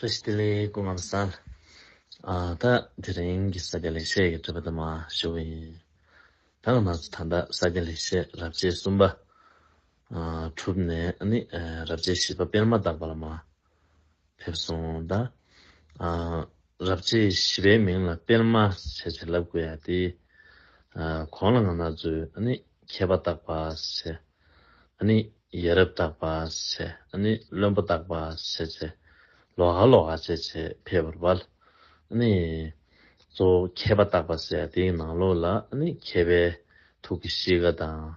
ཀྲི་སི་ཏི་ལའི་སྐུ་ངོ་གསར། ད་དེ་རིང་གི་ས་སྐྱ་ལེགས་བཤད་ཀྱི་འཕྲོས་པ་དུ་མ་ཞུ་གི་ཡིན། ད་ང་ཚོ་ད་ལྟ་ས་སྐྱ་ལེགས་བཤད་རབ་བྱེད་གསུམ་པ་གྲུབ་ནས་ནི་རབ་བྱེད་བཞི་པ་དཔེར་མ་བཏགས་པ་ལ་མ་ཕེབས་སོང་ད། རབ་བྱེད་བཞི་པའི་མིང་ལ་དཔེར་མ་བྱས་བྱས་ལབ་དགོས་ཡ་དེ། གོང་ལ་ང་ཚོས་ནི་མཁས་པ་བཏགས་པ་ཟེར། ནི། ཡ་རབས་བརྟག་པ་ཚེ་ནི། བློན་པོ་བརྟག་པ་ཚེ་ཚེ། ལོ་ཧ་ལོ་ཧ་ཚེ་ཚེ་ཕེབས་པར་བ། ནི། གཙོ་བོ་མཁས་པ་བརྟག་པ་ཚེ་དེའི་ནང་ལོགས་ལ་ནི་མཁས་པའི་ཐུགས་ཀྱི་གཤིས་ཀ་དང།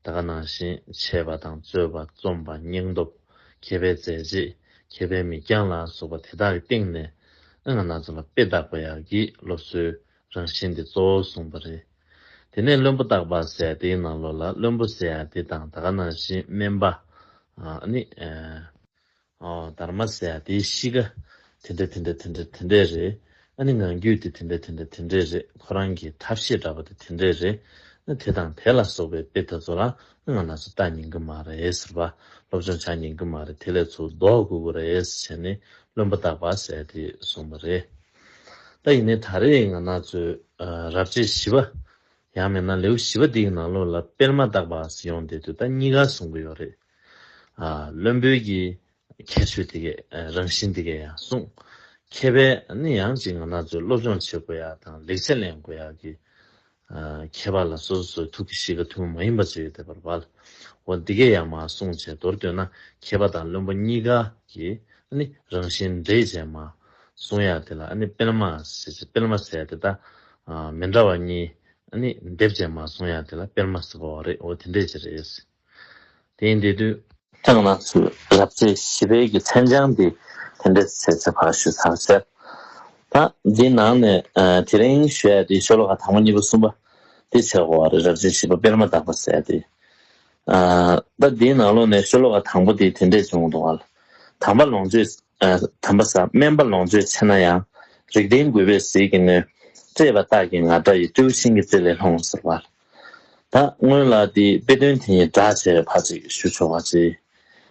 ད་ག་ནང་བཞིན་འཆད་པ་དང་རྩོད་པ་རྩོམ་པ་སྙིང་སྟོབས་མཁས་པའི་མཛད་རྗེས་མཁས་པའི་མིག་རྒྱང་ལ་སོགས་པ་དེ་དག་གི་སྟེང་ནས། ཨ་ང་ན་ཚོ་ལ་དཔེ་བརྟག་པ་ཡག་གི་སློབ་གསོའི་རང་བཞིན་དེ་གཙོ་བོར་བཟུང་བ་རེད། དེ་ནས་བློན་པོ་སྟག་ལྤགས་ཟས་དེའི་ནང་ལོགས་ལ་བློན་པོ་ཟས་ཡག་འདི་དང་ད་ག་ནང་བཞིན་སྨན་པ། ནི། དར་མ་ཟས་ཡག་འདིའི་གཤིས་ཀ་དེ་འདྲ་དེ་འདྲ་དེ་འདྲ་དེ་འདྲས་རེད། ནི་ངང་རྒྱུད་དེ་དེ་འདྲ་དེ་འདྲ་དེ་འདྲས་རེད་ཁོ་རང་གི་ཐབས་ཤེས་འདྲ་པོ་དེ་དེ་འདྲས་རེད། ནི་དེ་དང་དེ་ལ་སོགས་པའི་དཔེ་དེ་ཚོ་ལ་ནི་ང་ལ་ཚོ་ལྟ་ཉན་གི་མ་རེད་ཟེར་བ། སློབ་སྦྱོང་བྱ་ཉན་གི་མ་རེད་དེ་ལས་ཚོ་ལྡོག་དགོས་གི་རེད་ཟེར་ནས་བློན་པོ་སྟག་ལྤགས་ཟས་དེ་བཟུང་བ་རེད། ད་ཡིན་ནའི་ད་རེས་ང་ནག་ཚོས་རབ་བྱེད་བཞི་པ། ཡང་མིན་ན་ལེའུ་བཞི་པ་འདིའི་ནང་ལོ་ལ་དཔེར་མ་བཏགས་པ་ཞིག་ཡོང་བསྡད་དུས་ད་གཉིས་ཀ་གསུང་གི་ཡོད་རེད། བློན་པོའི་གྱི་ཁྱད་ཆོས་དེ་གས་རང་བཞིན་དེ་གས་ཡང་གསུངས། མཁས་པས་ནི་ཡང་ཅིག་ང་ནག་ཚོས་སློབ་སྦྱོང་བྱེད་དགོས་ཡག་དང་ལེགས་ཆ་ལེན་དགོས་ཡག་གི་མཁས་པ་ལ་སོ་སོ་སོའི་ཐུགས་ཀྱི་གཤིས་ཀ་ཐུན་མོང་མ་ཡིན་པ་ཅིག་ཡོད་དེ་པར་བ་ལ། འོ་འདི་སྐད་ཡང་མ་གསུངས་བྱས་མདོར་བསྡུ་ན་མཁས་པ་དང་བླུན་པོ་གཉིས་ཀ་གི་ཨ་ནི་རང་བཞིན་འདྲེས་བྱས་མ་གསུངས་ཡ་དེ་ལ་ཨ་ནི་སྤེལ་མ་ཟེར་གྱི་སྤེལ་མ་ཟེར་དེ་དག་མི་འདྲ་བ་གཉིས་ཨ་ནི་འདེབས་བྱས་མ་གསུངས་ཡ་དེ་ལ་སྤེལ་མ་ཟེར་བའོ་རེད་འོ་དེ་འདྲས་ཅི་རེད། དེ་ཡིན་དེ་དུས། ཐེངས་ནང་ཚུད་རབས་ཚེས་བཞི་པའི་གི་མཚན་བྱང་འདི་དེ་འདྲའི་ཚེ་ཚེ་བར་ཞུ་ཚར་ཟེར། ད་འདི་ནང་ནས་དེ་རིང་བཤད་དེ་ཤོ་ལོ་ཀ་དང་པོ་གཉིས་པ་གསུམ་པ་འདི་བྱེད་དགོས་བ་རེད་རབས་ཚེས་བཞི་པ་དཔེར་མ་དག་པ་ཟེར་དེ། ད་འདི་ནང་ལོ་ནས་ཤོ་ལོ་ཀ་དང་པོ་འདི་དེ་འདྲས་བྱུང་འདུག་བ་ལ། དམ་པ་ལོངས་སྤྱོད་དམ་པ་ས་སྨན་པ་ལོངས་སྤྱོད་ཆེ་ན་ཡང་རིགས་ལྡན་རྒུད་པས་ཟིལ་གྱི་སྣོད། བཀྲེས་པ་སྟག་གི་ང་སྒྲ་ཡི་སྤྲེའུ་ཤིང་གི་རྩེ་ལས་ལྷུང་ཟེར་བ་ལ། ད་སྔོན་ལ་དེའི་དཔེ་དོན་དེ་ཡིན་འདྲ་ཞེས་ཕར་ཚིག་ཞུ་ཆོག་པ་རེད།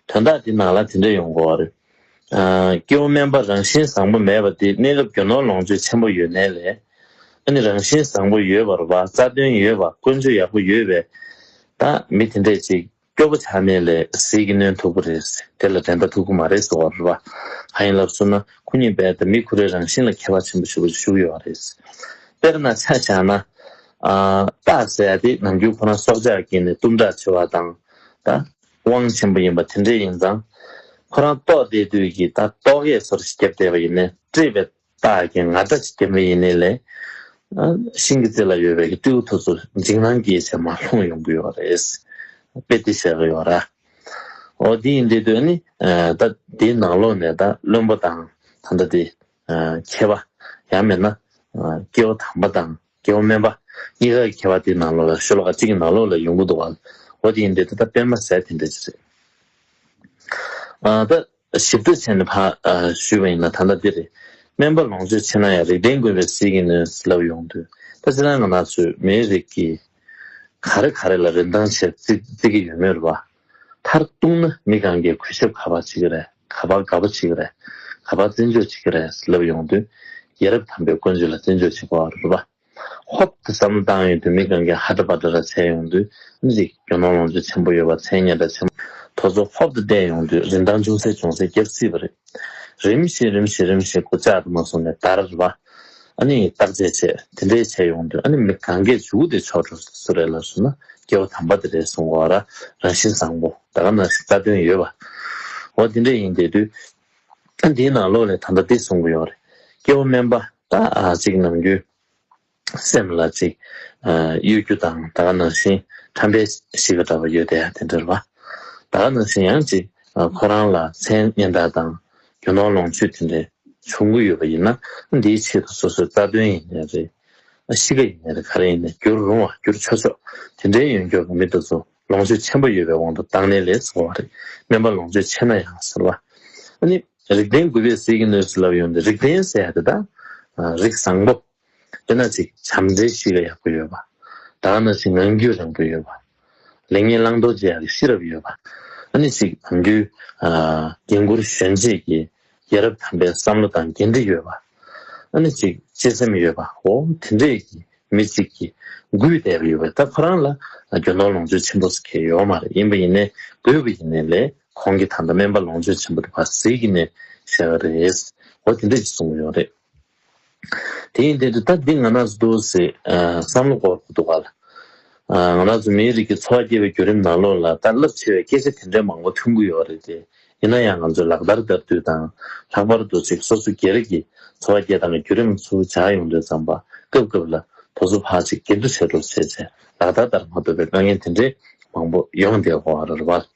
དོན་དག་འདི་ནང་ལ་དེ་འདྲ་ཡོང་དགོས་བ་རེད། སྐྱེ་བོ་དམན་པ་རང་བཞིན་བཟང་པོ་མེད་པ་འདི་གནས་སྐབས་རྒྱུ་ནོར་ལོངས་སྤྱོད་ཆེན་པོ་ཡོད་ནས་ལས། ཨ་ནི་རང་བཞིན་བཟང་པོ་ཡོད་པར་བ་རྩ་དོན་ཡོད་པ་དཀོན་མཆོག་ཡག་པོ་ཡོད་པས། ད་མི་དེ་འདྲས་ཅིག་སྐྱོ་པོ་ཆགས་མེད་ལས་ཟིལ་གྱིས་གནོན་ཐུབ་པོ་རེད། དེ་ལ་དྲན་པ་ཐུག་གི་མ་རེད་ཟེར་བ་རེད་པ། ཧ་ཡིན་ལབ་སུ་ན་སྐུ་ཉིད་རྦད་དེ་མི་ཁུ་རེ་རང་བཞིན་ལ་ཁྱད་པར་ཆེན་པོ་ཞིག་པོ་ཞིག་ཞུགས་ཡོད་བ་རེད། དཔེར་ན་ཆ་བཞག་ན། སྟག་ཟད་དེ་ནམ་རྒྱུན་ཁོ་རང་སྲོག་ཆགས་སྐྱེས་ནས་གཏུམ་དྲག་ཆེ་བ་དང། དབང་ཆེན་པོ་ཡིན་པ་དེ་འདྲས་ཡིན་ཙང། ཁོ་རང་ལྟོགས་བསྡད་དུས་ཀྱི་ད་ལྟོགས་ཡས་ཟོར་ཞིག་བརྒྱབ་བསྡད་པ་ཡིན་ནས་བཀྲེས་པའི་བདག་གི་ང་ལྟ་ཅི་སྟེ་མི་ཡི་གནས་ལས། ཤིང་གི་རྩེ་ལ་ཡོད་པའི་སྤྲེའུ་ཐུགས་སུ་འཇིགས་སྣང་སྐྱེས་བྱས་མ་ལྷུང་ཡོང་གི་ཡོད་རེད། དཔེ་དེ་བཤད་གི་ཡོད་རེད། འོ་དེ་ཡིན་དེ་དོན་ནི་ད་དེའི་ནང་ལོགས་ནས་ད་བློན་པོ་དང་ད་ལྟ་དེ་མཁས་པ། ཡང་མེད་ན་སྐྱེ་བོ་དམ་པ་དང་སྐྱེ་བོ་དམན་པ་གཉིས་ཀ་མཁས་པ་དེ་ནང་ལོགས་ལ་ཤོ་ལོ་ཀ་གཅིག་གི་ནང་ལོགས་ལ་ཡོང་གི་འདུག་བ་ལ་འོ་དེ་ཡིན་དེ་ད་ད་དཔེ་མ་ཟད་དེ་འདྲ་ཅི་རེད། ད། གཞི་བདག་ཆེན་ནས་ཕར་བཞུད་པ་ཡིན་ལ་ད་ལྟ་འདིར་རེད། སྨན་པ་ལོངས་སྤྱོད་ཆེ་ན་ཡང་རིགས་ལྡན་དགོན་པའི་གཟིགས་ཀྱི་ནོས་ལབ་ཡོང་དུས་ད་ཅི་རང་གི་ནགས་ཚོས་མིའི་རིགས་ཀྱིས་ག་རེ་ག་རེ་ལ་རིན་ཐང་ཆེར་བརྩི་གི་ཡོད་མོད་རེད། མཐར་གཏུགས་ན་མི་གང་གིས་གུས་ཞབས་ག་པར་བྱེད་ཀྱི་རེད་ག་པར་དགའ་པོ་བྱེད་ཀྱི་རེད་ག་པར་བརྩི་འཇོག་བྱེད་ཀྱི་རེད་ལབ་ཡོང་དུས་ཡ་རབས་དམ་པའི་དཀོན་མཆོག་ལ་བརྩི་འཇོག་བྱེད་དགོས་པ་རེད། ཧོབ་ཏུ་བསམ་བློ་བཏང་ཡོད་དུས་མི་གང་གིས་ཧ་ཏྲ་པ་ཏྲ་ར་བྱས་ཡོང་དུས་མི་རིགས་ཀྱི་རྒྱུ་ནོར་ལོངས་སྤྱོད་ཆེན་པོ་ཡོད་པ་མཚན་སྙན་གྲགས་ཆེན་པོ་ཚོ་ཧོབ་ཏུ་བསྡད་ཡོང་དུས་རིན་ཐང་ཅུང་ཟད་ཅུང་ཟད་བརྒྱབ་སྲིད་པ་རེད། རིམ་བཞིན་རིམ་བཞིན་རིམ་བཞིན་གོ་ཅག་དུ་མ་སོང་ནས་དར་བ། ཨ་ནི་བརྟག་དཔྱད་བྱས་དེ་འདྲས་བྱས་ཡོང་དུས་ཨ་ནི་མི་གང་གས་ཇུ་གུ་དེ་ཆོག་འགྲོ་སུ་རེད་ལབ་སོང་ན་སྐྱེ་བོ་དམ་པ་དེ་རེད་སོང་གོ་ཨ་ར་རང་བཞིན་བཟང་པོ་ད་ག་ན་སྲིད་རྩ་དོན་ཡོད་པ་འོ་དེ་འདྲས་ཡིན་བསྡད་དུས་ཨ། འདིའི་ནང་ལོགས་ལས་ད་ལྟ་འདི་གསུང་གི་ཡོད་རེད། སྐྱེ་བོ་དམན་པ། ད་གཟིགས་ནང་རྒྱུ། སེམས་ལ་གཟིགས། གཡོ་སྒྱུ་དང་ད་ག་ནང་བཞིན་ཁྲམ་པའི་གཞིས་ཀ་འདྲ་བ་ཡོད་དེ་དེ་འདྲར་བ། ད་ག་ནང་བཞིན་ཡང་ཅིག་ཁོ་རང་ལ་མཚན་སྙན་གྲགས་དང་རྒྱུ་ནོར་ལོངས་སྤྱོད་དེ་འདྲས་བྱུང་གི་ཡོད་པ་ཡིན་ན་ཨ་འདིའི་ཆེད་དུ་སོ་སོའི་རྩ་དོན་ཡིན་ནའི་རེད། གཤིས་ཀ་ཡིན་ནའི་རེད་ག་རེ་ཡིན་ནའི་འགྱུར་རུང་བ་འགྱུར་ཆོག་ཆོག་དེ་འདྲའི་ཡོན་སྐྱོབ་མི་འདུག་ཚོ་ལོངས་སྤྱོད་ཆེན་པོ་ཡོད་པའི་དབང་དུ་བཏང་ནས་ལས་བྱ་བ་རེད། དམན་པ་ལོངས་སྤྱོད་ཆེ་ན་ཡང་ཟེར་བ། ཨ་ནི། རིགས་ལྡན་རྒུད་པའི་ཟས་ཀྱི་སྣོད་སུ་ལབ་ཡོང་སྟེ་རིགས་ལྡན་ཟས་དེ་དག་རིགས་བཟང་པོ། དེ་ན་ཅིག་བྱམས་བརྩེ་གཤིས་ཀ་ཡག་པོ་ཡོད་པ། དག་ན་ཅིག་ངང་རྒྱུད་རིང་པོ་ཡོད་པ། ལེགས་ཉེས་བླང་དོར་རྗེས་ཡག་གི་ཤེས་རབ་ཡོད་པ། ཨ་ནི་ཅིག་དམ་རྒྱུད། རྒན་བཀུར་གཞོན་གཅེས་ཀྱི་ཡ་རབས་དམ་པའི་བསམ་བློ་དང་འགན་འཁྲི་ཡོད་པ། ཨ་ནེ་གཅིག་གཅེས་སེམས་ཡོད་པའོ། དེ་འདྲས་ཀྱི་མི་གཅིག་གིས་སྒུལ་བསྡད་པ་ཡོད་པས་ད་ཁོ་རང་ལ་རྒྱུ་ནོར་ལོངས་སྤྱོད་ཆེན་པོ་ཟེར་མཁན་ཡོད་མ་རེད་ཡིན་པ་ཡིན་ནའི་དགོས་ཀྱི་ཡིན་ནའི་ལས་གོང་གི་ད་ལྟ་སྨན་པ་ལོངས་སྤྱོད་ཆེན་པོ་དེ་བ་ཟིག་གི་ནས་བཤད་ག་རེད། འོ་དེ་འདྲས་ཀྱི་གསུང་གི་ཡོད་རེད། དེ་ཡིན་དེ་འདྲ་ད་འདི་ང་ན་ཟུག་འདུག་ཟེར་བསམ་བློ་འགོག་རོགས་འདུག་ག་ལ། ང་ན་ཟུག་མིའི་རིགས་ཀྱི་འཚོ་བ་སྐྱེལ་བའི་བརྒྱུད་རིམ་ནང་ལོགས་ལ་ད་རླབས་ཆེ་བའི་སྐད་ཆ་དེ་འདྲའི་མང་པོ་ཐོན་གི་ཡོད་རེད་དེ་ཡིན་ན་ཡང་ང་ཚོས་ལག་བསྟར་བསྟར་དུས་དང་ལྷག་པར་དུ་ཚིག་སོ་སོ་སྒེར་རེས་ཀྱི་འཚོ་བ་སྐྱེལ་སྟངས་ཀྱི་བརྒྱུད་རིམ་ཚུར་བཞག་ཡོང་དུས་ཙམ་པ་སྐབས་སྐབས་ལ་དོ་སོ་ཕག་ཅིག་གི་འདུ་བྱེད་འགྲོ་བྱེད་ཅེས་ལག་བསྟར་བསྟར་མ་ཐུབ་པའི་དཀའ་ངལ་དེ་འདྲའི་མང་པོ་ཡོང་བསྡད་འོང་ར་ར་བ།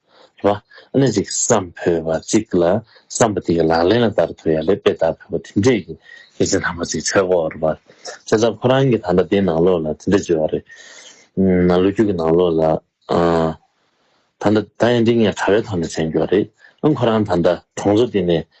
བ། གནད་གཅིག་བསམ་ཕོད་པ་གཅིག་ལ་བསམ་པ་དེའི་ལག་ལེན་ལ་བསྟར་ཐུབ་ཡ་ལེ་དཔེ་ལྟར་ཕོད་པ་དེ་འདྲས་ཀྱི་གལ་ཆེན་དམ་པ་གཅིག་ཆོལ་ཁ་བར་བར་ཆད་ཙམ་ཁོ་རང་གིས་ད་ལྟ་དེའི་ནང་ལོགས་ལ་དེ་འདྲ་བརྗོད་བ་རེད། ནང་ལོ་རྒྱུས་ཀྱི་ནང་ལོགས་ལ། ད་ལྟ་ད་ཡང་འདི་ངས་དྲ་བའི་ཐོག་ནས་མཚན་རྒྱུ་བ་རེད། ཁོ་རང་ད་ལྟ་གྲོང་ཚོ་འདི་ནས་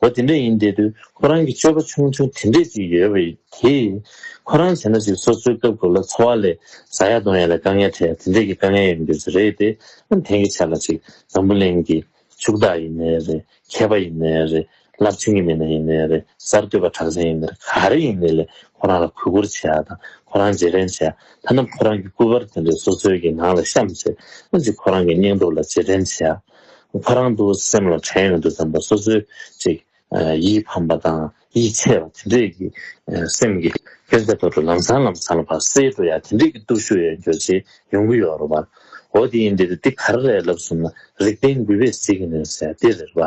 འོ་དེ་འདྲ་ཡིན་དེ་དུས་ཁོ་རང་གི་སྤྱོད་པ་ཆུང་ཆུང་དེ་འདྲས་ཅིག་ཡོད་པ་དེས་ཁོ་རང་བྱས་ན་ཅིག་སོ་སོའི་སྐབས་ཀྱི་ལ་འཚོ་བ་ལས་བཟའ་ཡག་འདོང་ཡག་ལས་དཀའ་ངལ་འཕྲད་ཡག་དེ་འདྲས་ཀྱི་དཀའ་ངལ་ཡོང་རྒྱུ་རེད་དེ་ཨ་དེང་གི་ཆ་ལ་ཅིག་འཛམ་བུ་གླིང་གི་ཕྱུག་བདག་ཡིན་ནའི་རེད་མཁས་པ་ཡིན་ནའི་རེད་རླབས་ཆེན་གྱི་མི་སྣ་ཡིན་ནའི་རེད་གསར་གཏོད་པ་གྲགས་ཅན་ཡིན་ནའི་རེད་ག་རེ་ཡིན་ནའི་ལས་ཁོ་རང་ལ་གུས་བཀུར་བྱས་ཡག་དང་ཁོ་རང་རྗེས་དྲན་བྱས་ཡག་ཐ་ན་ཁོ་རང་གི་སྐུ་པར་དེ་འདྲས་སོ་སོའི་གྱི་ནང་ལ་བཤམས་རྗེས་ཨ་ཅིག་ཁོ་རང་གི་སྙིང་སྟོབས་ལ་རྗེས་དྲན་བྱས་ཡག། ཕ་རང་དུ་སེམས་ལ་དྲན་ཡོང་དུ་བསམ་པ་སོ་སོའི་ཅིག། ཡིད་ཕམ་པ་དང་ཡིད་ཆད་པ་དེ་འདྲས་ཀྱི་སེམས་ཀྱི་ཕན་བདེ་ཐོག་ཏུ་ལམ་སང་ལམ་སང་ལ་བར་སེལ་འགྲོ་ཡ་དེ་འདྲས་ཀྱི་སྟོབས་ཤུགས་ཡ་འགྱོ་ཆེ་ཡོང་གི་ཡོ་རོ་བ། འོ་དེ་ཡིན་དེ་དེ་ག་རེ་རེད་ལབ་སོང་ན་རིག་ལྡན་གུས་པས་གཟིགས་ནས་ཟེར་ཡ་དེ་རེད་བ།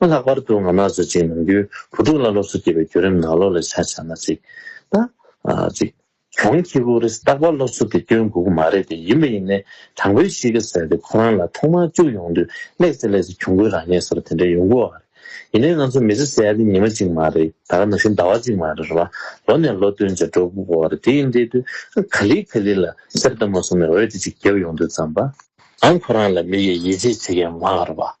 ལྷག་པར་དུ་ང་ནགས་སུ་འཇིགས་ནང་རྒྱུའི་བུ་ཕྲུག་ལ་སློབ་གསོ་སྐྱེལ་བའི་བརྒྱུད་རིམ་ནགས་ལོག་ལས་འཆར་བྱ་ན་ཅིག། ད། ཅིག། གྱོང་གི་བུ་རེས་རྟག་པར་སློབ་གསོ་དེ་སྐྱོན་དགོས་ཀྱི་མ་རེད་དེ་ཡིན་པ་ཡིན་ནའི་དྲང་པོའི་གཤིས་ཀ་ཟེར་དེ་ཁོ་རང་ལ་ཐོག་མར་བཅུག་ཡོང་དུས་ལེགས་ཚེ་ལེགས་ཚེ་གྱོང་གུན་རག་ངེས་ཟེར་བ་དེ་འདྲ་ཡོང་དགོས་བ་རེད། ཡིན་ནའི་ང་ཚོ་མི་ཚེ་ཟད་དེ་ཉི་མ་གཅིག་མ་རེད་ད་ག་ན་གཞི་ཟླ་བ་གཅིག་མ་རེད་རེད་བ། ལོ་ནས་ལོ་བསྟུན་བྱས་འགྲོ་དགོས་བ་རེད་དེ་ཡིན་དེ་དུས་ག་ལི་ག་ལི་ལ་གསེར་རྟ་མ་སོང་ནས་འོད་དེ་ཅིག་བརྒྱབ་ཡོང་དུས་ཙམ་པ། གང་ཁོ་རང་ལ་མི་ཡི་ཡིད་ཆེས་བྱེད་མཁན་མ་རེད་བ།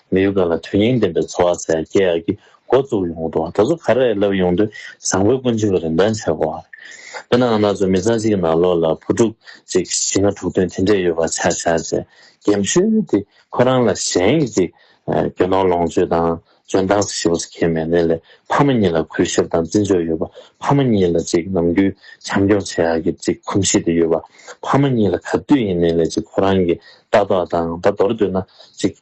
མི་ཡུལ་ཀ་ལ་དོན་སྙིང་ལྡན་པའི་འཚོ་བ་ཟད་རྒྱས་ཡག་གི་འགོ་བཙུགས་ཡོང་གི་འདུག་བ་ད་གཟུགས་ག་རེ་རེད་ལབ་ཡོང་དུས་བཟང་པོའི་ཀུན་སྤྱོད་ཀ་རེ་འདང་ཆགས་གོ་བ་རེད། དཔེར་ན་ང་ཚོ་མི་ཚང་གཅིག་གི་ནང་ལོག་ལ་བུ་ཕྲུག་ཅིག་བཞི་ལྔ་དྲུག་བདུན་དེ་འདྲས་ཡོད་པ་ཆ་བཞག་རྗེས་རྒན་ཤོས་དེ་ཁོ་རང་ལ་གཞན་གྱིས་ཅིག་རྒྱུ་ནོར་ལོངས་སྤྱོད་དང་འཇོན་ཐང་ཞིབ་པོ་ཟེར་མཁན་མེད་དེ་ལས་ཕ་མ་གཉིས་ལ་གུས་ཞབས་དང་བརྩི་འཇོག་ཡོད་པ་ཕ་མ་གཉིས་ལ་ཅིག་ནམ་རྒྱུན་བྱམས་སྐྱོང་བྱེད་ཡག་གི་ཅིག་ཁོམ་གཤིས་དེ་ཡོད་པ་ཕ་མ་གཉིས་ལ་ག་དུས་ཡིན་ནས་ལས་ཅིག་ཁོ་རང་གིས་ལྟ་རྟོག་དང་ལྟ་འདོར་འདོད་ན་ཅིག།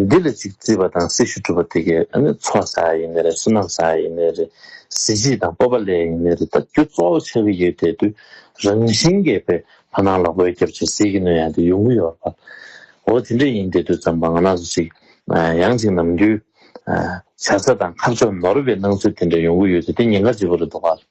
འདི་ལ་ཅིག་རྩིས་པ་དང་སྲི་ཞུ་སྒྲུབ་པ་དེ་གའི་ཚོགས་བསགས་ཡས་ནས་རེད་བསོད་ནམས་བསགས་ཡས་ནས་རེད་གཟི་བརྗིད་དང་སྤོབས་པ་ལས་ཡས་ནས་རེད་ད་རྒྱུ་གཙོ་བོ་ཆགས་ཀྱི་ཡོད་དེ་དུས་རང་བཞིན་གྱི་བས་བར་སྣང་ལ་འགོས་རྒྱབ་ཅིག་ཟིལ་གྱིས་གནོན་ཡས་དེ་ཡོང་གི་ཡོད་རེད་པ་འོ་དེ་འདྲ་ཡིན་དེ་དུས་ཙམ་པ་ང་ནགས་སུ་ཅིག་ཡང་ཅིག་ནམ་རྒྱུན་བྱ་ས་དང་ཁ་ཕྱོགས་ནོར་བའི་སྣང་ཚུལ་དེ་འདྲ་ཡོང་གི་ཡོད་དེ་དེ་ཉེན་ཁ་ལྗིད་པོ་རེད་འདུག་ག་ལ།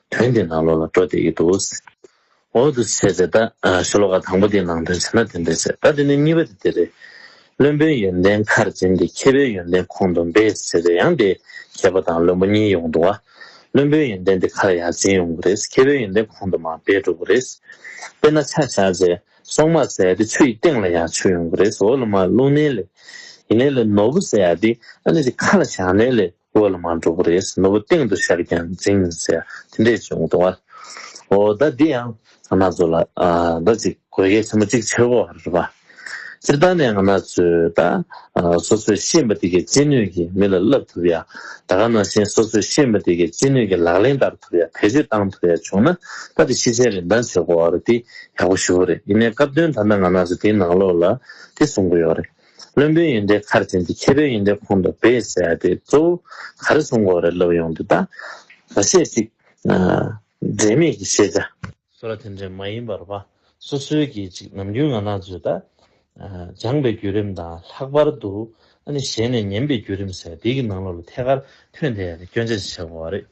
དོན་དེ་ནང་ལོགས་ལ་སྤྲོ་བསྡད་ཡོད་འདུག། འོག་ཏུ་བྱས་ཚེ་ད་ཤློ་ཀ་དང་པོ་དེའི་ནང་དོན་བྱས་ན་དེ་འདྲ་ཟེར་ད་དེ་ནས་གཉིས་པ་དེ་དེ་རེད། བློན་པོའི་ཡོན་ཏན་ཁར་འཛིན་ཏེ་མཁས་པའི་ཡོན་ཏན་ཁོང་དུ་འབེབས་ཟེར་ཚེ་ཡང་དེ་མཁས་པ་དང་བློན་པོ་གཉིས་ཡོང་འདུག་ཨ། བློན་པོའི་ཡོན་ཏན་དེ་ཁར་ཡང་འཛིན་ཡོང་གི་རེད་མཁས་པའི་ཡོན་ཏན་ཁོང་དུ་མ་འབེབས་འགྲོ་གི་རེད། དཔེར་ན་ཆ་བཞག་ཚེ་སོག་མ་ཟས་དེ་ཆུ་ཡི་སྟེང་ལ་ཡང་ཆུ་ཡོང་གི་རེད་འོག་ལ་མ་བླུགས་ནའི་ལེགས། ཡིན་ནའི་ལེགས་ནོར་བུ་ཟས་ཡ་དེ་ཨ་ནི་དེ་ཁ་ལ་བཞག་ནའི་ལེགས། བོད་ལ་མ་འགྲོ་བོ་རེད་ནོར་བུ་སྟེང་དུ་ཤར་ཀྱང་འཛིང་ཟེར་དེ་འདྲས་བྱུང་འདུག་བ། འོ་ད་འདི་ཡང་ང་ནག་ཚོ་ལ་ད་ཅིག་དགོས་གལ་ཆེན་པོ་གཅིག་ཆེ་བོ་རེད་བ། སྤྱིར་བཏང་ནས་ང་ནག་ཚོས་ད་སོ་སོའི་ཤེས་མི་དེ་གའི་ཅི་ནུས་ཀྱི་མི་ལ་བསླབ་ཐུབ་ཡ། ད་ག་ནང་བཞིན་སོ་སོའི་ཤེས་མི་དེ་གའི་ཅི་ནུས་ཀྱི་ལག་ལེན་བསྟར་ཐུབ་ཡ་བེད་སྤྱོད་བཏང་ཐུབ་ཡ་བྱུང་ན་ད་དེ་ཤེས་བྱའི་རིན་ཐང་ཆེ་བོ་རེད་དེ་ཡག་པོ་ཞུ་བོ་རེད་ཡིན་ནའི་སྐབས་དོན་ད་ནང་ང་ནག་ཚོས་དེའི་ནང་ལོགས་ལ་དེ་གསུང་གི་ཡོད་རེད། བློན་པོའི་ཡོན་ཏན་ཁར་བྱིན་ཏེ་མཁས་པའི་ཡོན་ཏན་ཁོང་དུ་སྦས་ཟེར་བ་དེ་གཙོ་བོ་ག་རེ་གསུང་དགོས་རེད་སློབ་ཡོང་དུས་ད་བཤད་ཅིག། འབྲེལ་མེད་ཀྱི་བཤད་བྱ། སོ་ར་དེ་འདྲས་མ་ཡིན་པར་བ་སོ་སོའི་གྱིས་ཅིག་ནམ་རྒྱུན་ང་ན་ཚོས་ད་སྦྱངས་པའི་བརྒྱུད་རིམ་དང་ལྷག་པར་དུ་ཨ་ནི་གཞན་ནས་ཉན་པའི་བརྒྱུད་རིམ་ཟེར་བ་དེ་གི་ནང་ལོགས་ལ་ཐད་ཀར་ཐོན་ཐལ་ཡང་དེ་སྐྱོན་ཆ་ཞིག་ཆགས་དགོས་བ་རེད།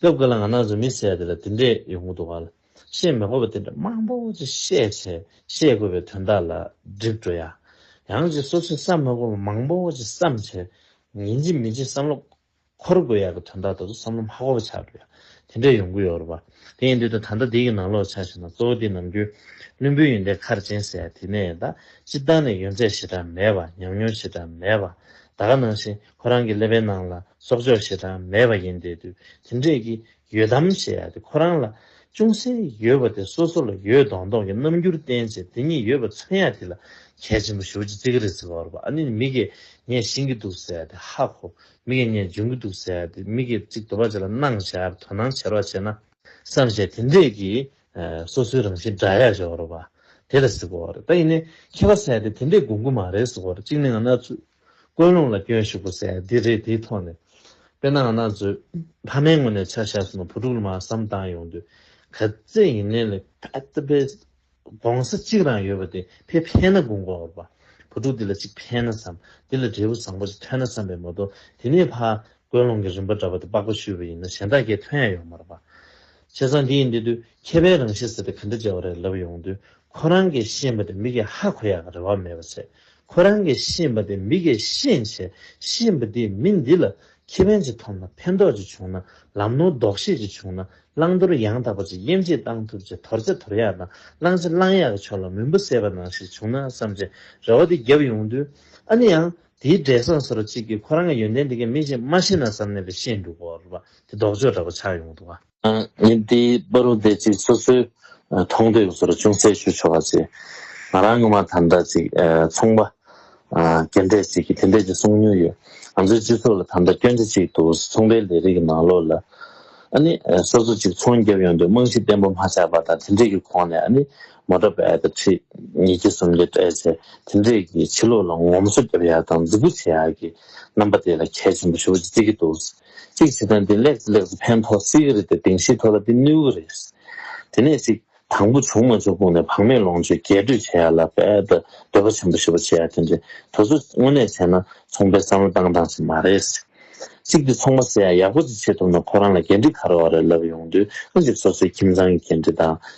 སྐབས་འགའ་ལ་ང་ན་ཚོས་མི་ཟེར་བ་དེ་ལ་དེ་འདྲས་ཡོང་གི་འདུག་བ་ལ། བཤད་མི་དགོས་པ་དེ་འདྲ་མང་པོ་ཅིག་བཤད་བྱས་བཤད་དགོས་པའི་དོན་དག་ལ་སྒྲིབ་འགྲོ་ཡ། ཡང་ཅིག་སོ་སོས་བསམ་མི་དགོས་པ་མང་པོ་ཅིག་བསམ་བྱས། ཉིན་གཅིག་མི་གཅིག་བསམ་བློ་འཁོར་དགོས་ཡ་གི་དོན་དག་ད་དུ་བསམ་བློ་མ་འཁོར་བ་ཆགས་འགྲོ་ཡ། དེ་འདྲས་ཡོང་གི་ཡོད་རེད་པ། དེ་ཡིན་དུས་ད་ད་ལྟ་དེ་གི་ནང་ལོག་ཆ་ཞིག་ན་གཙོ་བོ་དེ་ནམ་རྒྱུན་བླུན་པོའི་ཡོན་ཏན་ཁར་འབྱིན་ཟེར་ཡ་དེ་ནས་ད་སྤྱི་བཏང་ནས་ཡོན་ཚད་ཞེ་དྲག་མེད་པ་ཉམས་མྱོང་ཞེ་དྲག་མེད་པ། ད་ག་ནང་བཞིན་ཁོ་རང་གི་ཀླད་པའི་ནང་ལ་གསོག་འཇོག་ཞེ་དྲག་མེད་པ་ཡིན་བསྡད་དུས་དེ་འདྲས་ཀི་ཡོད་དམ་ཞེས་ཡ་དེ་ཁོ་རང་ལ་ཅུང་ཟད་ཡོད་པ་དེ་སོ་སོ་ལ་ཡོད་མདོག་མདོག་གི་རྣམ་འགྱུར་བསྟན་རྗེས་དེ་གཉིས་ཡོད་པ་མཚོན་ཡ་དེ་ལ་གལ་ཆེན་པོ་ཞུ་ཅི་རྩི་གི་རེད་ཟེར་བ་བར་པ་ཨ་ནི་མི་གེ་ངས་ཤིང་གི་འདུག་ཟེར་ཡ་དེ་ཧ་གོ་མི་གེ་ངས་འཇོན་གི་འདུག་ཟེར་ཡ་དེ་མི་གེ་ཅིག་དོ་བ་བྱས་ལ་གནང་ཞེས་ཡར་དོ་སྣང་བྱེར་བ་བྱས་ན། བསམ་བཞེས་དེ་འདྲས་ཀྱི་སོ་སོའི་རང་བཞིན་འདྲ་ཡ་ཞོར་བར་པ་དེ་ལ་ཟེར་བར་པ་ཨ་ཡིན་ནས་ཁྱེད་པ་ཟེར་ཡ་དེ་དེ་འདྲས་དགོངས་ཀི་མ་རེད་ཟེར་བར་པ་གཅིག་ནས་ང་ནག་ཚུགས། ཀུན་སློང་ལ་སྐྱོན་ཞིག་པོ་ཟད་འདི་རེད་དེའི་ཐོག་ནས། དཔེར་ན་ང་ན་ཟོས་ཕ་མའི་ངོ་ནས་ཆ་བཞག་ཟིན་ན་བུ་ཕྲུག་ལ་མ་བསམ་བཏང་ཡོང་དུས་ག་ཚད་ཡིན་ནའི་ལས་ཕལ་ཏེ་པའི་གོང་ས་གཅིག་རང་ཡོད་པ་དེ་ཕལ་ཕལ་ན་དགུང་གོང་བར་བུ་ཕྲུག་འདི་ལ་ཅིག་ཕན་ན་བསམ་འདི་ལ་འབྲས་བུ་བཟང་པོ་ཅིག་ཐོན་ན་བསམ་པའི་མོ་ཏོ་དེ་ནས་ཕ། ཀུན་སློང་གི་རིམ་པ་འདྲ་པ་དེ་པགས་པ་བཤུས་པ་ཡིན་ན་གཞན་དག་གས་ཐོན་ཡ་ཡོང་མ་རེད་པ། བྱས་ཙང་འདི་ཡིན་འདི་དུས་མཁས་པའི་རང་གཤིས་ཟེར་དེ་ག་འདྲ་མཇལ་བ་རེད་ལབ་ཡོང་དུས་ཁོ་རང་གས་ཤེས་པ་དེ་མི་གས་ཧ་གོ་ཡ་ག་རེ་བ་མེད་པ་ཟད་ཁོ་རང་གི་ཤེས་པ་དེ་མི་གའི་ཤེས་བྱའི་ཤེས་པ་དེའི་མི་འདི་ལ་ཁེ་ཕན་ཅིག་ཐོབ་ན་ཕན་ཐོགས་ཅིག་བྱུང་ན་ལམ་ནོར་ལྡོག་ཤེས་ཅིག་བྱུང་ན་བླང་དོར་ཡང་དག་པ་ཅིག་དབྱེ་འབྱེད་བཏང་ཐུབ་ཅིག་དོར་བྱ་དོར་ཡག་དང་བླང་བྱ་བླང་ཡག་གི་ཕྱོགས་ལ་མུན་པ་བསལ་བ་ནང་ཞིག་བྱུང་ན་བསམ་བྱའི་རེ་བ་དེ་བརྒྱབ་ཡོང་དུས་ཨ་ནི་ཡང་དེའི་འབྲས་བཟང་ཟེར་བ་ཅིག་གིས་ཁོ་རང་གི་ཡོན་ཏན་དེ་གའི་མི་ཞིག་མ་ཤེས་ན་བསམ་ནས་པའི་ཤེས་འདུག་གོ་རེ་བ་དེ་ལྡོག་ཕྱོགས་འདྲ་པོ་ཆགས་ཡོང་དུ་བ། ཉིན་དེའི་སྤོ་རུ་བདེ་སྐྱིད་སོ་སོའི་མཐོང་ཐོས་ཡོངས་སུ་ཅུང་ཟད་ཞུ་ཆོག་པ་བྱས། ང་རང་ངོ་མ་ད་ལྟ་ཅིག་ཚོང་པ་རྒན་གྲས་ཤིག་གིས་དེ་འདྲས་ཀྱི་གསུང་མྱོང་ཡོད། ང་ཚོའི་སྤྱི་ཚོགས་ལ་ད་ལྟ་སྐྱོན་ཆ་གཅིག་འདུག་ཚོང་པའི་ལས་རིགས་ཀྱི་ནང་ལོགས་ལ་ཨ་ནི་སོ་སོ་ཅིག་ཚོང་བརྒྱབ་ཡོང་དུས་རྨང་གཞི་བརྟན་པོ་མ་ཆགས་པ་དང་དེ་འདྲས་ཀྱི་གོང་ནས་ཨ་ནི་མོ་ཏོ་བེད་ད་ཁྲི་གཉིས་ཀྱི་སུམ་བརྒྱ་སྤྲད་ཚེ་དེ་འདྲས་ཀྱིས་ཕྱི་ལོགས་ལ་ངོམ་སོ་བརྒྱབ་ཡག་དང་རྫིག་པོ་བྱེད་ཡག་གི་རྣམ་པ་དེ་ལ་གལ་ཆེན་པོ་ཞུ་རྒྱུ་བརྩི་གི་འདུག། ཅིག་བྱས་ཙང་འདི་ལེགས་སུ་ལེགས་སུ་ཕན་ཐོགས་སྲིད་ཀྱི་རེད་དེ་གདེང་གཤིས་ཐོག་ལ་འདི་ནུས་གི་རེད། དེ་ནས་ཅིག་དང་པོ་བྱུང་མ་བྱུང་ཁོང་ནས་བག་མེད་ལོངས་སྤྱོད་རྒྱས་སྤྲོས་བྱེད་ཡ་ལ་དཔལ་དང་འདོད་པ་ཆེན་པོ་ཞི་བ་བྱེད་ཡ་དེ་འདྲའི་དོ་གཟོ་དངོས་གནས་བྱས་ན་ཚོང་པའི་བསམ་བློ་བཏང་བཏང་ཞིག་མ་རེད། ཅིག་འདི་ཚོང་པ་ཟེར་ཡ་ཡག་པོ་ཅིག་བྱེད་ཐུབ་ན་ཁོ་རང་ལ་འགན་འཁྲི་ག་རེ་བ་རེ་ལབ་ཡོང་དུས་ཨ་ཅིག་སོ་སོའི་ཁྱིམ་ཚང་གི་འགན་འཁྲི་དང།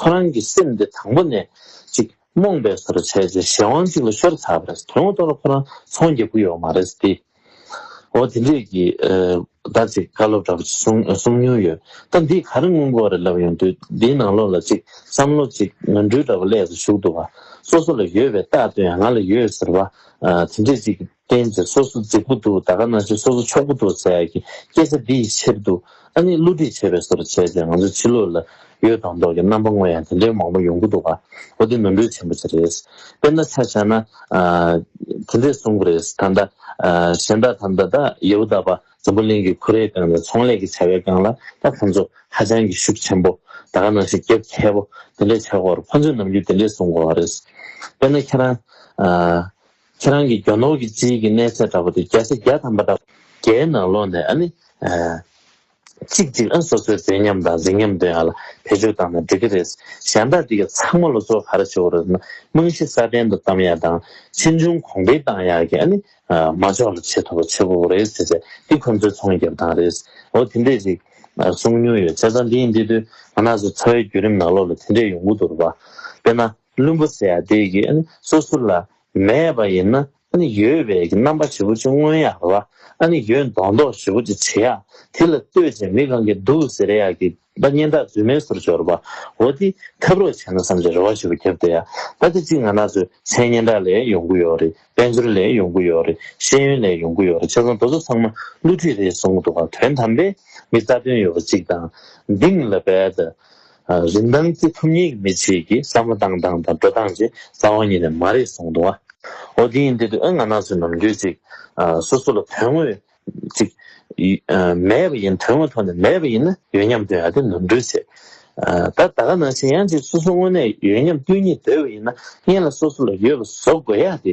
ཁོ་རང་གི་སེམས་དེ་དང་པོ་ནས་ཅིག་རྨོངས་པའི་སོ་ར་བྱས་རྗེས་གཞན་དབང་ཅིག་ལ་ཤོར་ཚར་བ་རེད། དོན་དངོས་ཐོག་ལ་ཁོ་རང་ཚོང་རྒྱག་གི་ཡོད་མ་རེད་ཟེར་དུས། འོ་དེ་འདྲས་ཀྱི་ཟླ་གཅིག་བཀའ་སློབ་འདྲ་པོ་ཅིག་གསུངས་མྱོང་ཡོད། ད་འདིས་ག་རེ་སྔོན་འགོག་རེད་ལབ་ཡོང་དུས་འདིའི་ནང་ལོགས་ལ་ཅིག་བསམ་བློ་ཅིག་ང་འགྲུལ་འདྲ་པོ་ཀླད་དུ་ཞུགས་འདུག་བ། སོ་སོ་ལ་ཡོད་པའི་རྟགས་དོན་ཡང་ང་ལ་ཡོད་ཟེར་བ་དེ་འདྲས་ཅིག་བསྟན་རྩིས་སོ་སོ་རྫིག་པོ་འདུག་ད་ག་ནང་ཆོས་སོ་སོ་འཁྱོག་པོ་འདུག་ཟེར་ཡག་གི་སྐད་ཆ་འདི་ཡི་ཕྱིར་དུ་ཨ་ནེ་བསླུ་བྲིད་བྱས་པའི་བཟོ་རུ་བྱས་ཏེ་ང་ཚོ་ཕྱི་ལོག་ལ་ཡོད་དང་མདོག་གི་རྣམ་པ་དངོས་ཡང་དེ་འདྲའི་མང་པོ་ཡོང་གི་འདུག་ག་འོ་དེ་ནོར་འཁྲུལ་ཆེན་པོ་ཅིག་རེད། དཔེར་ན་ཆ་བཞག་ན། དེ་འདྲས་གསུང་གི་རེད་ད་ལྟ། གཞན་དག་དང་ད་ལྟ་ཡོ་ད་པ་འཛམ་བུ་གླིང་གི་ཁུ་རེ་སྒང་ནས་ཚོང་ལས་ཀྱི་བྱ་བའི་སྒང་ལ་ད་ཁོང་ཚོ་ཧ་ཅང་གི་ཤུགས་ཆེན་པོ་ད་ག་ནང་བཞིན་རྒྱབ་མཁས་པོ་དེ་འདྲས་བྱས་སྐོར་ཁོང་ཚོས་ནམ་རྒྱུན་དེ་འདྲས་གསུང་གི་འོ་རེད། དཔེར་ན་ཁྱེད་རང། ཁྱེད་རང་གི་གྱོ་ནོར་གྱི་རྩིས་ཀྱི་གནས་ཚད་འདྲ་པོ་དེ་བརྒྱ་ཆ་བརྒྱ་ཐམ་པ་འདྲ། བརྒྱའི་ནང་ལོགས་ནས་ཨ་ནི། ཅིག་ཅིག་ཨ་སོ་སོའི་མཛེས་ཉམས་དང་རིག་ཉམས་དོན་ཨ་ལ་བེད་སྤྱོད་བཏང་ན་འགྲིག་གི་རེད། གཞན་དག་འདི་ག་ཚང་མ་ལོ་ཚོ་ག་རེ་བྱེད་འོ་རེད་ན་རྨང་གཞི་སྲ་བརྟན་དུ་གཏམ་ཡག་དང་ཕྱིས་འབྱུང་གོང་འཕེལ་གཏང་ཡག་གི་ཨ་ནི། མ་ཕྱོགས་ལ་བྱེད་ཐུབ་པ་བྱེད་དགོས་གི་རེད་ཟེར་ཚེ་འདི་ཁོང་ཚོའི་ཚོང་རྒྱབ་སྟངས་རེད། འོ་དེ་འདྲས་ཅིག་གསུངས་མྱོང་ཡོད་བྱས་ཙང་འདི་ཡིན་འདི་ལྟོས་ང་ན་ཟུར་ཚ་བའི་བརྒྱུད་རིམ་ནང་ལོགས་ལ་དེ་འདྲས་ཡོང་གི་འདུག་རུ་པ། དཔེར་ན། བླུན་པོ་ཟེར་ཡག་དུས་ཀྱི་སོ་སོ་ལ་མེད་པ་ཡིན་ན་ཡོད་པའི་རྣམ་པ་བཞི་པོ་ཅི་མངོན་ཡག་ལ་ཡོད་མདོག་མདོག་བཞི་པོ་ཅི་བྱེད་ཡག་དེ་ལ་ལྟོས་ཅན་མི་གང་གི་འདུག་ཟེར་ཡག་གི་ད་སྙན་གྲགས་རྫུན་མའི་ཟུར་སྦྱོར་བའོ་དེ་ཐབས་རོགས་བྱས་ན་བསམ་བྱ་རེ་བ་བཞི་པོ་ཁྱབ་བསྡད་ཡག་ད་དེ་གཅིག་ང་ནག་ཚོས་མཚན་སྙན་གྲགས་ལས་ཡོང་གི་ཡོག་རེད་དཔལ་འབྱོར་ལས་ཡོང་གི་ཡོག་རེད་ཤེས་ཡོན་ལས་ཡོང་གི་ཡོག་རེད་བྱས་ཙང་དོ་ཚོ་ཚང་མ་བསླུ་བྲིད་རེད་གསུང་གི་འདུག་ག་དོན་དམ་པའི་མི་རྩ་དོན་ཡོད་པ་གཅིག་དང་དིང་ལ་བལ་དང་རིན་ཐང་རྩི་ཕུབ་སྙིགས་མི་བྱེད་ཀྱི་བསམ་བློ་བཏང་སྟངས་དང་འགྲོ་སྟངས་ཀྱི་རྩ་བ་ཉིད་ནས་མ་རེད་གསུངས་འདུག་ཨ། ཨོ་དེ་ཡིན་དེ་འདུག་ཨེ་ང་ནགས་ཚོའི་ནམ་རྒྱུན་ཅིག། སོ་སོ་ལ་དོན་དངོས་ཅིག། མེད་པ་ཡིན་དོན་དངོས་ཐོག་ནས་མེད་པ་ཡིན་ན་ཡོད་སྙམ་སྟོན་ཡ་དེ་ནོར་འཁྲུལ་ཆེ། ད་ད་ག་ནང་བཞིན་ཡང་ཅིག་སོ་སོ་དངོས་གནས་ཡོད་སྙམ་སྟོན་གཉིས་འདོད་པ་ཡིན་ན་གཉེན་ལ་སོ་སོ་ལ་ཡོད་པ་བཟོ་དགོས་ཡ་དེ་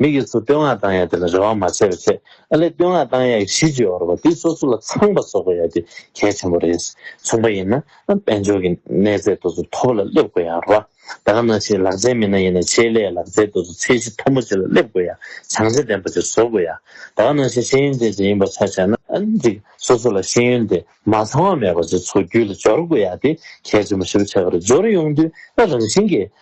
མིག་གིས་ཚུར་བསྟོད་བསྔགས་བཏང་ཡང་དེ་ལ་རེ་བ་མ་བྱས་པའི་ཚེ་ཨ་ལས་བསྟོད་བསྔགས་བཏང་ཡག་གི་གཞི་བཅོལ་བར་བ་དེ་སོ་སོ་ལ་ཚངས་པ་གསོག་དགོས་ཡག་དེ་གལ་ཆེན་པོ་རེད། མཚུངས་པ་ཡིན་ན་དཔལ་འབྱོར་གྱི་གནས་ཚད་དུ་ཚུར་ཐོབ་ལ་སླེབས་དགོས་ཡག་རེད་བ། ད་ག་ན་ཆེས་ལག་རྩལ་མི་སྣ་ཡིན་ན་ཆེས་ལས་ལག་རྩལ་དུ་ཚུར་ཚད་གཞི་མཐོན་པོ་ཆེ་ལ་སླེབས་དགོས་ཡག་བྱང་ཆ་ལྡན་པ་ཆེ་བཟོ་དགོས་ཡག་ད་ག་ན་ཆེས་ཤེས་ཡོན་ཅན་ཅིག་ཡིན་པར་ཆ་བྱས་ན་འགྲིག་སོ་སོ་ལ་ཤེས་ཡོན་དེ་མ་ཚང་བ་མེད་པ་ཆེ་ཚུར་རྒྱུད་ལ་སྦྱོར་དགོས་ཡག་དེ་གལ་ཆེན་པོ་ཞེས་པ་ཆགས་ཀྱི་རེད་སྦྱོར་ཡོང་དུས་ཨ་རང་བཞིན་གྱིས་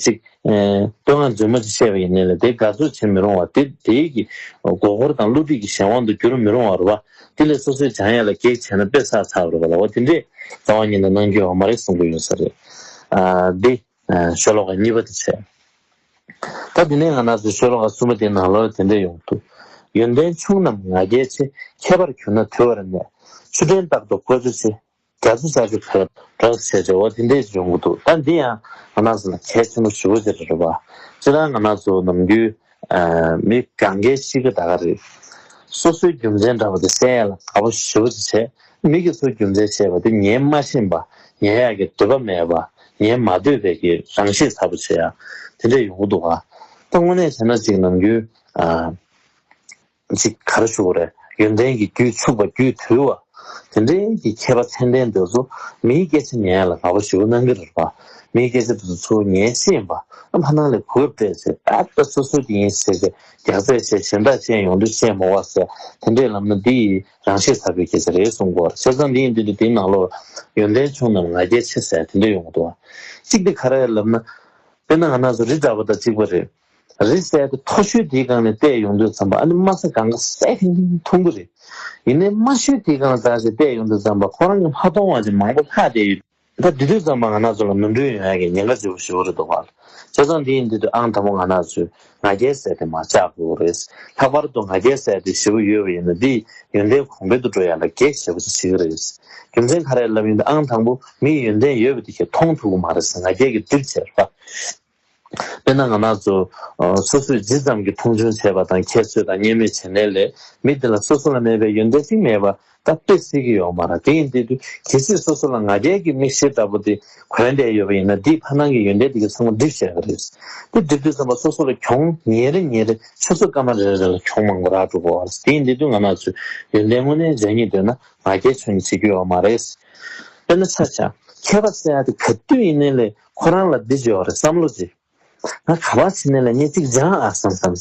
ཚིག། བསྟོད་བསྔགས་རྫུན་མ་ཅིག་བཤད་པ་ཡིན་ནའི་ལ་དེ་དགའ་བསུ་བྱེད་མི་རུང་བ། དེ་དེའི་གི་མགོ་སྐོར་དང་བསླུ་བྲིད་ཀྱི་གཞན་དབང་དུ་འགྱུར་མི་རུང་བར་བ། དེ་ལས་སོ་སོའི་བྱང་ཡས་ལ་གེགས་བྱས་ན་དཔེ་བསགས་ཚར་བར་བ་ལ་བ་དེ་འདྲས་རྩ་བ་ཉིད་ལ་གནང་རྒྱུ་ཡང་མ་རེད་གསུང་གི་ཡོད་ས་རེད། འདི། ཤོ་ལོ་ཀ་གཉིས་པ་དེ་བྱས། ད་དེ་ནས་ང་ན་ཚོད་ཤོ་ལོ་ཀ་གསུམ་པ་དེ་ནང་ལོ་དེ་འདྲས་ཡོང་འདུག་ཡོན་ཏན་ཆུང་རྣམས་ང་རྒྱལ་ཆེ་ཁྱད་པར་གྱུར་ན་དུལ་བར་གནས། ཆུ་སྐྲན་རྟག་ཏུ་བཀོལ་ཚོད་ཆེ་རྒྱ་མཚོ་ལྕགས་ཀྱི་ཁར་གྲགས་ཞེས་བྱ་བ་འདི་འདྲས་ཀྱི་ཡོང་གི་འདུག་ད་འདི་ཡང་ང་ནགས་ཚོ་ལ་གལ་ཆེན་པོ་ཞུ་གི་ཡོད་རེད་བ། སྤྱིར་ན་ང་ནགས་ཚོ་ནམ་རྒྱུན་མི་གང་གའི་གཤིས་ཀ་འདྲ་ག་རེད། སོ་སོའི་རྒྱུ་མཚན་འདྲ་བ་དེ་གསལ་ཡས་ལ་དགའ་པོ་ཞེ་བོ་དེ་བྱས། མི་གི་ཚོ་རྒྱུ་མཚན་བྱས་པ་དེ་ཉན་མ་ཤེས་པ་ཉན་ཡག་གི་འདོད་པ་མེད་པ་ཉན་མ་འདོད་པའི་གི་རང་ཤེས་ཚ་པོ་བྱས་ཡག་དེ་འདྲས་ཡོང་གི་འདུག་བ། ད་དངོས་གནས་བྱས་ན་ཅིག་ནམ་རྒྱུན་ཅིག་གར་བཞུགས་རེ་ཡོན་ཏན་གྱི་རྒྱུད་ཕྱུག་པ་རྒྱུད་དུལ་བ། དེ་འདྲའི་ཡི་གེ་པ་མཚན་ལྡན་འདོད་གཟུགས་མིའི་སྐྱེ་མཆེད་ངན་ལ་དགའ་བ་ཞུ་གནང་གི་རེད་པ། མིའི་སྐྱེ་མཆེད་དུ་ཚུར་ངའི་གཤེས་ཡིན་པ་ཨ་ཕ་ནང་ལས་གོ་སྐབས་སྤྲད་ཚེ་ད་ལྟ་སོ་སོའི་དེ་ཡིན་ཟེར་ཏེ་རྒྱག་རྩད་བྱས་གཞན་དག་ཅན་ཡོང་དུས་ཤེས་མོ་བ་ཟེར་དེ་འདྲའི་ལམ་ན་འདི་ཡི་རང་ཤེས་ཚ་བོའི་སྐྱེ་མཆེད་རེད་གསུང་དགོས་ཤ་ཚང་འདི་ཡིན་དུས་འདི་དེའི་ནང་ལོར་ཡོན་ཏན་ཆུང་ནམ་ང་རྒྱལ་ཆེ་ཟེར་དེ་འདྲས་ཡོང་གི་འདུག་ཅིག་འདི་ག་རེ་ལབ་ན་དཔེར་ན་ང་ནགས་སུ་རི་བྲག་པ་དང་གཅིག་པ་རེད། རི་གསལ་དུ་ཐོ་ཤོད་དེའི་སྒང་ནས་བལྟས་ཡོང་དུས་བརྩམས་པ་ཨ་ནི་དམའ་ས་གང་ག་སད་ཐིང་ཐིང་ཐིང་ཐུང་གི་རེད། ཡིན་ནའི་དམའ་ཤོད་དེའི་སྒང་བཟའ་ཟེར་བལྟས་ཡོང་དུས་བརྩམས་པ་ཁོ་རང་གི་ལྷག་མཐོང་བ་ཅན་མང་པོ་ལྷག་བསྡད་ཡོད། ད་དེ་དུས་བརྩམས་པ་ང་ནག་ཚོ་ལ་མི་འགྲོའི་ཡོང་ཡ་གི་ཉེན་ཁ་ལྗིད་པོ་ཞུ་གི་རེད་འདུག་བ་ལ། བྱས་ཙང་དེ་ཡིན་དེ་དུས་ཨང་དང་པོ་ང་ནག་ཚོས་ང་རྒྱལ་ཟས་དེ་མ་བཅག་དགོས་རེད། ལྷག་པར་དུ་ང་རྒྱལ་ཟས་དེ་ཞེ་པོ་ཡོད་པ་ཡིན་ན་དེ་ཡོན་ཏན་གོང་འཕེལ་དུ་འགྲོ་ཡ་ལ་གེགས་བྱེད་པ་ཅི་བྱེད་ཀྱི་རེད། རྒྱུ་མཚན་ག་རེ་ལབ་ཡིན་དུས་ཨང་དང་པོ་མིའི་ཡོན་ཏན་ཡོད་པ་དེ་ཁྱེད་མཐོང་ཐུབ་གི་མ་རེད་ཟེར་ང་རྒྱལ་གྱི་སྒྲིབ་བྱེད་ར་བ། དཔེར་ན་ང་ནག་ཚོ། སོ་སོས་ཇི་ཙམ་གྱིས་མཐོང་ཆུང་བྱས་པ་དང་ཁྱད་གསོད་དང་བརྙས་སྨོད་བྱས་ནས་ལས་མི་དེ་ལ་སོ་སོ་ལ་མེད་པའི་ཡོན་ཏན་གཅིག་མེད་པ་ད་དཔེ་སྲིད་ཀྱི་ཡོག་མ་ར་དེ་ཡིན་དེ་དུས་གལ་སྲིད་སོ་སོ་ལ་ང་རྒྱལ་གྱི་མིག་ཤེལ་ལྟ་བུ་དེ་གོན་བསྡད་ཡོད་པ་ཡིན་ན་དེས་ཕ་ནང་གི་ཡོན་ཏན་དེ་གའི་ཚོང་བ་སྒྲིབ་བཞག་གི་རེད། དེ་སྒྲིབ་དུས་བསམ་པ་སོ་སོ་ལ་གྱོང་ཉེ་རེ་ཉེ་རེ་ཆུ་ཚོད་སྐར་མ་རེ་རེ་ལ་གྱོང་མང་པོ་རག་འགྲོ་དགོས་བ་རེད་དེ་ཡིན་དེ་དུས་ང་ནག་ཚོས་ཡོན་ཏན་དངོས་གནས་འཇགས་ཉིད་འདོད་ན་ང་རྒྱལ་ཆོས་ཉིད་བྱེད་རྒྱུ་ཡོག་མ་རེད། དཔེར་ན་ཆ་ཆ། མཁས་པ་བསད་ཡ་དེ་ག་དུས་ཡིན་ནའི་ལས་ཁོ་རང་ལ་འདི་བརྗོད་བར་བསམ་བློ་བྱས། ང་ག་པར་ཕྱི་ནས་ལ་ཉེ་གཅིག་སྦྱང་ཨ་བསམ་བསམ།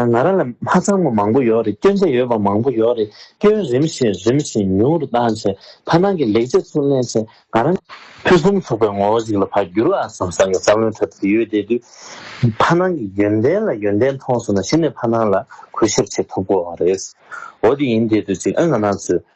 ང་རང་ལ་མ་ཚང་བ་མང་པོ་ཡོད་རེད་སྐྱོན་ཆ་ཡོད་པ་མང་པོ་ཡོད་རེད་སྐྱོན་རིམ་བཞིན་རིམ་བཞིན་ཉུང་རུ་བཏང་ཆེད་ཕ་ནང་གི་ལེགས་ཆ་ཚུར་བསླན་ཆེད་ང་རང་ཕུན་སུམ་ཚོགས་པའི་ངོ་བོ་ཞིག་ལ་འཕར་འགྱུར་ཨ་བསམ་བསམ་ནས་བསམ་བློའི་འཁྲབ་ཚིག་ཡོད་བསྡད་དུས། ཕ་ནང་གི་ཡོན་ཏན་ལ་ཡོན་ཏན་མཐོང་སོང་ན་གཞི་ནས་ཕ་ནང་ལ་གུས་ཞབས་བྱེད་ཐུབ་དགོས་བ་རེད། འོ་དེ་ཡིན་བསྡད་དུས་གཅིག་ཨ་ང་ནག་ཚོས་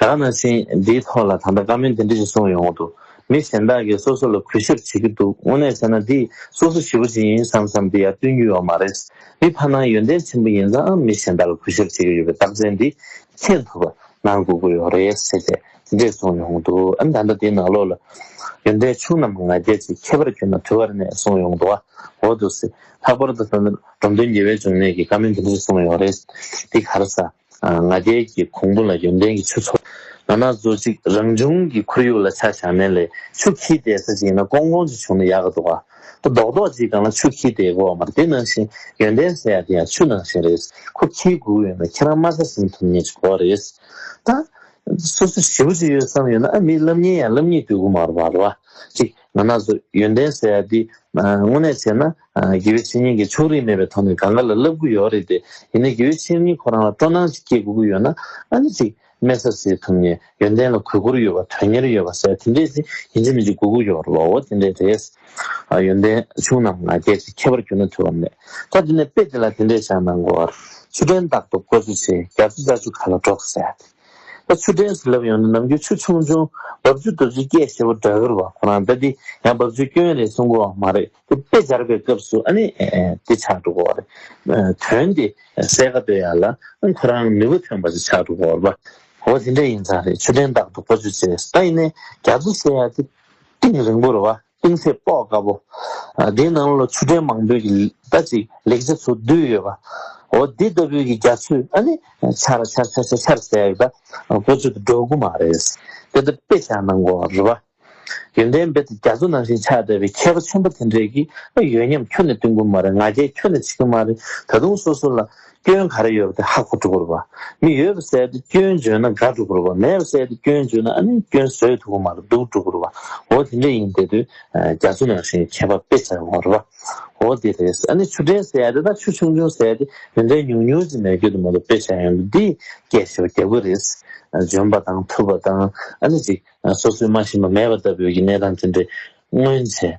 ད་ནང་བཞིན་འདིའི་ཐོག་ལ་ད་ལྟ་བཀའ་མོལ་འདི་འདྲ་ཞིག་གསུང་ཡོང་དུ་མི་གཞན་དག་གིས་སོ་སོ་ལ་གུས་ཞབས་བྱེད་ཀྱི་འདུག་དངོས་གནས་བཤད་ན་འདི་སོ་སོ་ཞི་བ་ཞིག་ཡིན་བསམ་བསམ་འདི་ཡར་བསྟུན་རྒྱུ་ཡོད་མ་རེད། མི་ཕ་ནང་ཡོན་ཏན་ཆེན་པོ་ཡིན་ཙང་མི་གཞན་དག་ལ་གུས་ཞབས་བྱེད་ཀྱི་ཡོད་པའི་རྟགས་མཚན་འདི་མཁྱེན་ཐུབ་པ་གནང་དགོས་ཀྱི་ཡོད་རེད་ཟེར་ཏེ་འདི་འདྲས་གསུང་ཡོང་དུ་ཨ་ནི་ད་ལྟ་འདིའི་ནང་ལོགས་ལ་ཡོན་ཏན་ཆུང་རྣམས་ང་རྒྱལ་གྱི་ཁྱད་པར་གྱོན་ན་དུས་བར་ནས་གསུང་ཡོང་དུ་བ་འོ་དུ་སི། ལྷག་པར་དུ་ད་ནི་འབྲོམ་སྟོན་རྒྱལ་བའི་འབྱུང་གནས་ཀྱིས་བཀའ་མོལ་འདི་འདྲ་ཞིག་གསུང་ཡོང་རེད་འདི་ག་རེ་ཟ། ང་རྒྱལ་གྱི་གོང་བུ་ལ་ཡོན་ཏན་གྱི་ཆུ་འཚོ། ང་ནག་རྫོ་གཅིག་རང་བྱུང་གི་ཁོར་ཡུག་ལ་ཆ་བཞག་ནས་ལས་ཆུ་ཁྱིའི་གཏད་ས་ཅིག་ན་ཀོང་ཀོང་ཅིག་བྱུང་ན་ཡག་ག་འདུག་ཨ། ད་རྡོག་རྡོག་ཅིག་གང་ལ་ཆུ་ཁྱིའི་གཏད་དགོས་བ་མ་རེད་དེ་ནང་བཞིན་ཡོན་ཏན་ཟེར་ཡག་དེ་ཡང་ཆུ་ནང་བཞིན་རེད། ཁོ་ཁྱིའི་སྒུག་ཡོད་ན་ཁྱེད་རང་མ་ཟ་ཟིན་ཐུབ་ངེས་ཅིག་གོ་རེད། ད། སོ་སོ་ཞེ་བོ་ཅིག་ཡོད་བསམ་ཡོད་ན་ཨ་མིའི་སླབ་གཉེར་ཡང་སླབ་གཉེར་དུས་གུ་མར་བ་རེད་བ། ཅིག། ང་ནགས་སུ་ཡོན་ཏན་ཟེར་ཡ་འདི་དངོས་གནས་བྱས་ན་དགེ་བའི་བཤེས་གཉེན་གྱི་ཕྱོགས་རིས་མེད་པའི་ཐོག་ནས་གངྒཱ་ལ་བསླབ་དགོས་ཡོད་རེད་དེ་ཡིན་ན་དགེ་བའི་བཤེས་གཉེན་ཁོ་རང་ལ་སྤྲོ་སྣང་ཞིག་སྐྱེ་དགོས་ཀྱི་ཡོད་ན་ཨ་ནི་ཅིག་དམན་ས་ཟིལ་ཐུབ་ནས་ཡོན་ཏན་ལ་གུས་བཀུར་ཡོད་པ་དོན་གཉེར་ཡོད་པ་ཟེར་དེ་འདྲས་ཞིག་ཡིན་ཅི་མིན་ཅིག་གུས་བཀུར་ཡོད་པར་ལོའོ་དེ་འདྲས་རེད། ཡོན་ཏན་ཆུང་ནམ་ང་རྒྱལ་གྱི་ཁྱད་པར་གྱུར་ན་ཐོས་བ་མེད་ད་འདི་ནས་དཔེ་དེ་ལ་དེ་འདྲས་བཞག་ན་མགོ་བར་ཆུ་བྲན་བདག་ཏུ་བཀོལ་ཚུལ་ཆེ་རྒྱ་མཚོ་ལྕགས་ཆུ་ཁ་ལ་སྒྲོག་ཟེར་ཡ་དེ། ད་ཆུ་ཕྲན་ཚེ་ལབ་ཡོང་ནས་ནམ་རྒྱུན་ཆུ་ཆུང་ཆུང་འབབ་ཆུ་དུར་ཆུ་སྐྱེས་ཞེས་པོ་དགྲ་གུར་བ་ཁོ་རང་ད་འདི་ཡང་འབབ་ཆུའི་སྐྱོན་རེད་གསུང་གོ་བ་མ་རེད་དེ་དཔེ་སྦྱར་པའི་སྐབས་སུ་ཨ་ནི་དེ་ཆགས་འགྲོ་གོ་བ་རེད། དོན་དེ་གསལ་ཁ་བཏོད་ཡ་ལ་ཁོ་རང་མི་བུ་ཐོན་པ་ཞིག་ཆགས་འགྲོ་གོ་བ་རེད། འོ་དེ་འདྲ་ཡིན་ཙང་རེད་ཆུ་ཕྲན་བདག་ཏུ་བཀོལ་ཆོག་བྱས་ད་ཡིན་ནའི་རྒྱ་མཚོ་བསྲེས་ཡ་དེ་གཏིང་རིང་པོར་བ། སྟེང་གསེབ་དཔོག་དཀའ་བོ། དེའི་ནང་ལོ་ཆུ་ཕྲན་མང་པོའི་ཀྱི་རྟ་ཅིག་ལེགས་ཆ་ཚུར་བསྡུས་ཡོད་པ། འོ་འདི་ལྟ་བུའི་ཀྱི་རྒྱ་མཚོས་ཨ་ནི་ཆར་ཆར་ཆར་ཆར་ཆར་ཟས་ཡོད་པ། ཁོ་ཚོས་དུ་འགྲོ་གི་མ་རེད། དེ་ལྟར་དཔེ་ཆ་ནང་གོ་རེད་པ། ཡོན་ཏན་འབེ་ད་རྒྱ་མཚོ་ནང་བཞིན་ཆགས་བསྡད་པའི་མཁས་པ་ཆེན་པོ་དེ་འདྲས་ཀྱི་ཡོད་སྙམ་ཁྱོད་ནས་སྟོན་གི་མ་རེད་ང་རྒྱལ་ཁྱོད་ནས་བྱེད་གི་མ་རེད་ད་དུང་སོ་སོ་ལ་སྐྱོན་ག་རེ་ཡོད་པ་དེ་ཧ་གོ་ཐུབ་དགོས་རུ་བ། མི་ཡོད་པ་སེལ་ཏེ་སྐྱོན་བརྗོད་ན་དགའ་འགྲོ་གི་རུ་བ། མེད་པ་སེལ་ཏེ་སྐྱོན་བརྗོད་ན་ཨ་ནི་སྐྱོན་བཟོད་ཐུབ་གི་མ་རུ་འདུག་འགྲོ་གི་རུ་བ། འོ་དེ་འདྲ་ཡིན་དེ་དུས་རྒྱ་མཚོ་ནང་བཞིན་ཁྱད་པར་དཔེ་བྱ་དགོས་རུ་བ། འོ་དེ་རེད་ཨ་ནི་ཆུ་ཕྲན་སེལ་ཏེ་དང་ཆུ་ཆུང་ཆུང་སེལ་ཏེ་མི་འདྲ་ཉུང་ཉུང་ཅིག་མེད་རྒྱུ་དུ་མ་རུ་དཔེ་བྱ་ཡོང་དུས་འདི་སྐད་བྱེད་པ་རྒྱག་གི་རེད། འཇོན་པ་དང་ཐུབ་པ་དང་ཨ་ནི་ཅིག་སོ་སོའི་མ་ཞིམ་པ་མེད་པ་ལྟ་བུའི་གི་གནས་སྟངས་དེ་འདྲས་མངོན་བྱས།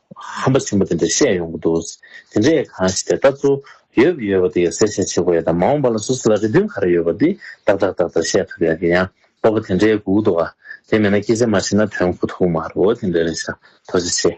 ཧམ་པ་ཆེན་པོ་དེ་འདྲ་བཤད་ཡོང་གི་འདུག་དེ་འདྲས་གང་ཞིག་དེ་ལྟར་ཚོ་ཡོད་པ་ཡོད་པ་དེ་གསལ་བཤད་བྱེད་དགོས་ཡ་ད་མ་འོངས་པ་ལ་སོ་སོ་ལ་རེ་འདུན་ག་རེ་ཡོད་པ་དེ་ཏག་ཏག་ཏག་ཏག་བཤད་ཐུབ་ཡག་གི་ཡང་སྤོབས་པ་དེ་འདྲས་སྒུག་འདུག་ཨ་དེ་མེད་ན་སྐད་ཆ་མ་བཤད་ན་དོན་གོ་ཐུག་མ་རོ་དེ་འདྲས་རེད་ཤག་དོ་ཅི་ཤེས།